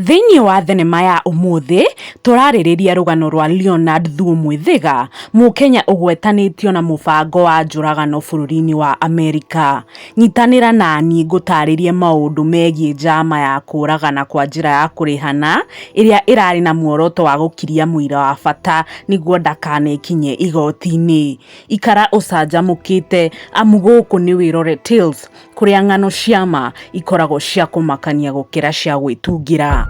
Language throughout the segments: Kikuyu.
Thĩinĩ wa thenema ya ũmũthĩ, tũrarĩrĩria rũgano rwa Leonard Thuo Mwĩthĩga, Mũkenya ũgwetanĩtio na mũbango wa njũragano bũrũri-inĩ wa Amerika. Nyitanĩra na niĩ ngũtaarĩrie maũndũ megiĩ njama ya kũũragana kwa njĩra ya kũrĩhana, ĩrĩa ĩrarĩ na muoroto wa gũkiria mũira wa bata nĩguo ndakanekinye igooti-inĩ. Ikara ũcanjamũkĩte amu gũkũ nĩ Wĩrore Tales. kũrĩa ng'ano cia ma ikoragwo cia kũmakania gũkĩra cia gwĩtungĩra.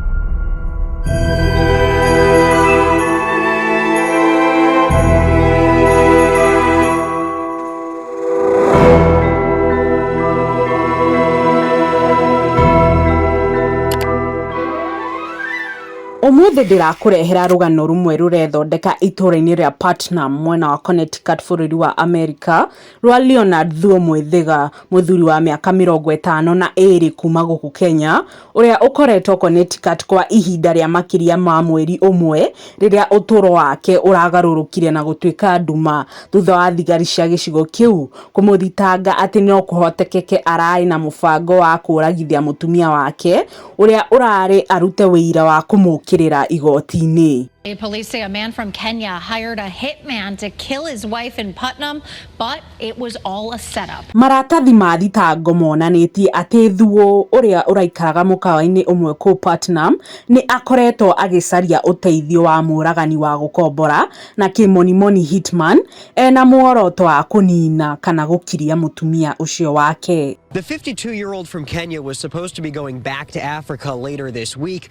Ũmũthĩ ndĩrakũrehera rũgano rũmwe rũrethondeka itũũra-inĩ rĩa Putnam mwena wa Connecticut bũrũri wa Amerika, rwa Leonard Thuo Mwethiga, mũthuri wa mĩaka mĩrongo ĩtano na ĩĩrĩ kuuma gũkũ Kenya, ũrĩa ũkoretwo Connecticut kwa ihinda rĩa makĩria ma mweri ũmwe rĩrĩa ũtũũro wake ũragarũrũkire na gũtuĩka nduma thutha wa thigari cia gĩcigo kĩu kũmũthitanga atĩ no kũhotekeke ararĩ na mũbango wa kũũragithia mũtumia wake ũrĩa ũrarĩ arute wĩira wa kũmũkĩrĩra igoti-inĩ. Police say a man from Kenya hired a hitman to kill his wife in Putnam, but it was all a setup. Maratathi ma thitango monanĩtie atĩ Thuo ũrĩa ũraikaraga mũkawa-inĩ ũmwe kũu Putnam nĩ akoretwo agĩcaria ũteithio wa mũragani wa gũkombora na kĩmonimoni hitman ena muoroto wa kũnina kana gũkiria mũtumia ũcio wake. The 52-year-old from Kenya was supposed to be going back to Africa later this week.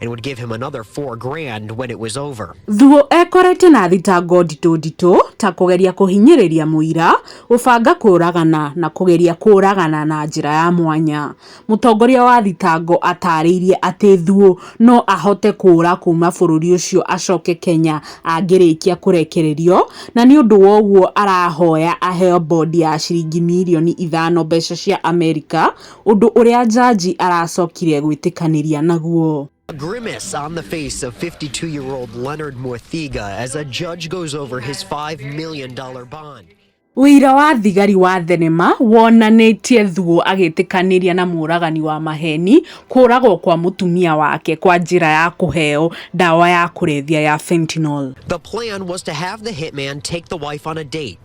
and would give him another four grand when it was over. Thuo ekorete na thitango nditũ nditũ ta kũgeria kũhinyĩrĩria mũira, gũbanga kũragana na kũgeria kũragana na njĩra ya mwanya. Mũtongoria wa thitango atarĩirie atĩ Thuo no ahote kũra kuma bũrũri ũcio acoke Kenya angĩrĩkia kũrekererio na nĩ ũndũ wa ũguo arahoya aheo bondi ya ciringi mirioni ithano mbeca cia Amerika Ũndũ ũrĩa njanji aracokire gwĩtĩkanĩria naguo. A grimace on the face of 52 year old Leonard Muthiga as a judge goes over his $5 million bond. Wĩira wa thigari wa thenema wonanĩtie Thuo agĩtĩkanĩria na mũragani wa maheni kũragwo kwa mũtumia wake kwa njĩra ya kũheo ndawa ya kũrebia ya fentanyl. The plan was to have the hitman take the wife on a date.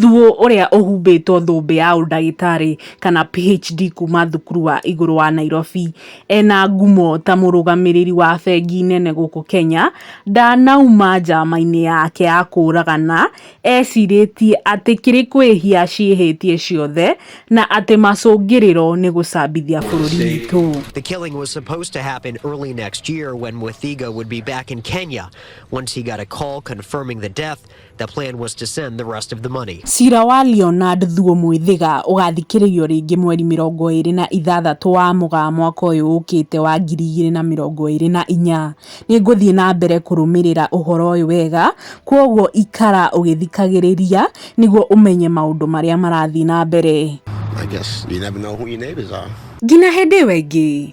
Thuo ũrĩa ũhumbĩtwo thũmbĩ ya ũndagĩtarĩ kana PHD kuma thukuru wa igũrũ wa Nairobi, ena ngumo ta mũrũgamĩrĩri wa bengi nene gũkũ Kenya, ndanauma njama-inĩ yake ya kũragana, ecirĩtie atĩ kĩrĩ kwĩhia ciĩhĩtie ciothe na atĩ macũngĩrĩro nĩ gũcambithia bũrũri witũ. The killing was supposed to happen early next year when Mwethiga would be back in Kenya. Once he got a call confirming the death, The plan was to send the rest of the money. Cira wa Leonard Thuo Mwĩthĩga ũgathikĩrĩrio rĩngĩ mweri mĩrongo ĩrĩ na ithathatũ wa Mũgaa mwaka ũyũ ũkĩte wa ngiri igĩrĩ na mĩrongo ĩrĩ na inya. Nĩ ngũthiĩ na mbere kũrũmĩrĩra ũhoro ũyũ wega, kwoguo ikara ũgĩthikagĩrĩria nĩguo ũmenye maũndũ marĩa marathiĩ na mbere. I guess you never know who your neighbors are. Nginya hĩndĩ ĩyo ĩngĩ.